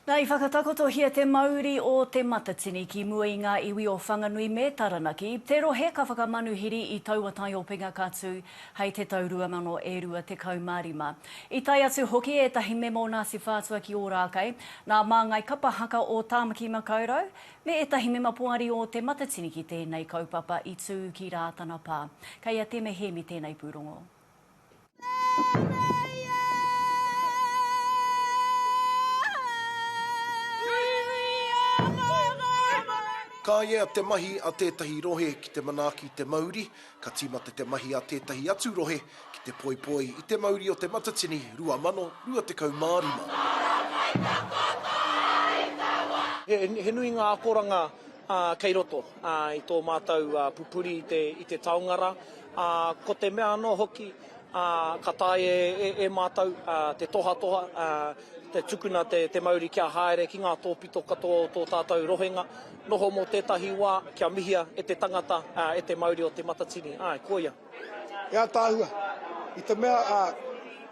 Na i whakatakotohia te mauri o Te Matatini ki mua i ngā iwi o Whanganui me Taranaki, te rohe ka whakamanuhiri i taua taiopenga ka tū hei te tau 2025. I tae atu hoki ētahi mema o Ngāti Whātua ki Ōrākei, nā Māngai Kapa Haka o Tāmaki Makaurau, me ētahi mema poari o Te Matatini ki tēnei kaupapa i tū ki Rātana Pā. Kei a Teme Hēmi tēnei pūrongo. Ka ia te mahi a tētahi rohe ki te manaaki i te mauri, ka tīmata te mahi a tētahi atu rohe ki te poipoi i te mauri o Te Matatini 2025. He nui ngā akoranga kei roto i tō mātou pupuri i te taonga rā. Ā, ko te mea anō hoki, ā, ka taea e, e mātou, ā, te tohatoha, ā, te tukuna te, te mauri kia haere ki ngā tōpito katoa o tō tātou rohenga, noho mō tētahi wā, kia mihia e te tangata, ā, e te mauri o Te Matatini. Āe, koia. He ātaahua, i te mea, ā,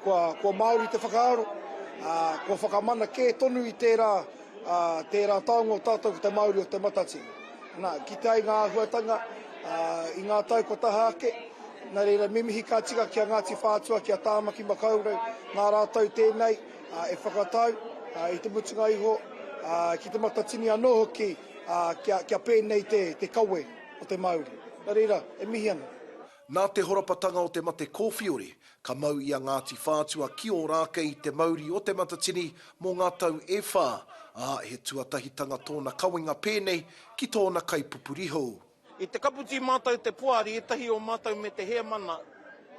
kua, kua Māori te whakaaro, ā, kua whakamana kē tonu i tērā, ā, tērā taonga o tātou ko te mauri o Te Matatini. Nā, kitea i ngā āhuatanga, ā, i ngā tau kua taha ake. Nā reira, me mihi ka tika ki a Ngāti Whātua, ki a Tāmaki Makaurau, nā rātou tēnei, ā, e whakatau, ā, i te mutunga iho, ā, ki Te Matatini anō hoki, ā, kia, kia pēnei te, te kawe o te Māori. Nā reira, e mihi ana. Nā te horapatanga o te mate kōwhiori, Ka mau i a Ngāti Whātua ki Ōrākei i te mauri o Te Matatini mō ngā tau e whā, ā, he tuatahitanga tōna kawenga pēnei ki tōna kaipupuri hou. I te kaputi mātou te poari ētahi o mātou me te hēmana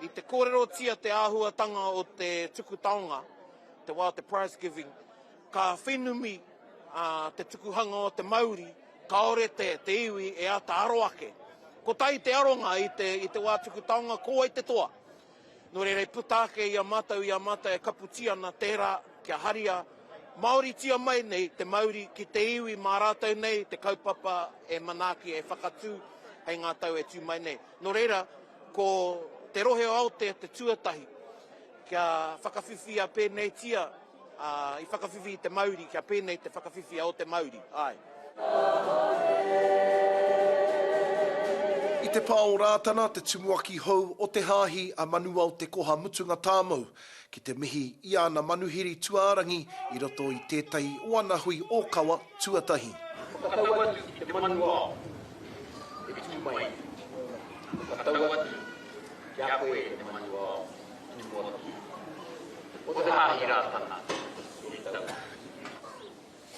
i te kōrerotia te āhuatanga o te tuku taonga, te wā o te prize giving. Ka whenumi te tukuhanga o te mauri, kāore te iwi e āta aro ake. Kotahi te aronga i te wā tuku taonga ko wai te toa. Nō reira i puta ake i a mātou, i a mātou e kaputi ana tērā kia haria, māoritia mai nei te mauri ki te iwi mā rātou nei te kaupapa e manaaki, e whakatū hei ngā tau e tū mai nei. Nō reira, ko te rohe o Aotea te tuatahi kia whakawhiwhia pēneitia. Ā, i whakawhiwhi i te mauri, kia pēnei te whakawhiwhia o te mauri, āe. I te pā o Rātana te tumuaki hou o te Hāhi a Manuao Te Koha Mutunga Tāmou ki te mihi i ana manuhiri tuārangi i roto i tētahi o ana hui ōkawa tuatahi. Whakatau atu ki te manuao e tū mai nei. Whakatau atu ki a koe e te manuao. Tumuaki. Ko te Hāhi Rātana i tau.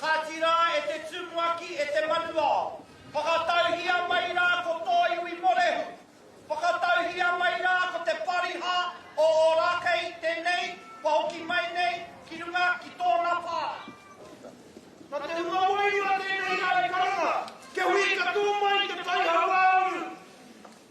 Kāti rā e te Tumuaki, e te Manuao, whakatauhia mai rā ko tō iwi Morehu, whakatauhia mai rā ko te Pariha o Ōrākei tēnei kua hoki mai nei ki runga ki tōna pā. Nā te hunga wairua tēnei ārai karanga kia huri katoa mai te tai hauāuru.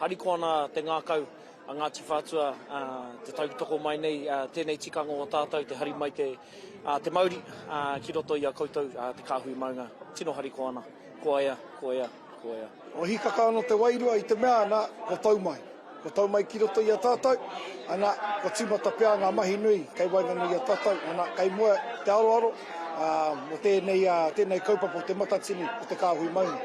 Harikoa nā te ngākau a Ngāti Whātua te tautoko mai nei tēnei tikanga o tātou te hari mai te mauri ki roto i a koutou te kāhui maunga. Tino harikoa ana. Koia, koia, koia. Ko Hikaka ano te wairua i te mea ana ko Taumai. Kua tau mai ki roto i a tātou, ana, kua tīmata pea ngā mahi nui kei waenganui i a tātou, ana, kei mua i te aroaro mō tēnei, tēnei kaupapa o Te Matatini o te Kāhui Maunga.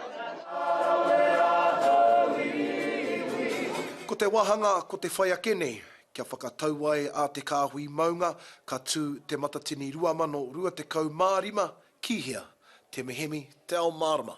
Ko te wāhanga, ko te whai ake nei, kia whakatau ai a te Kāhui Maunga ka tū Te Matatini 2025 ki hea? Te Mehemi, te Ao Mārama.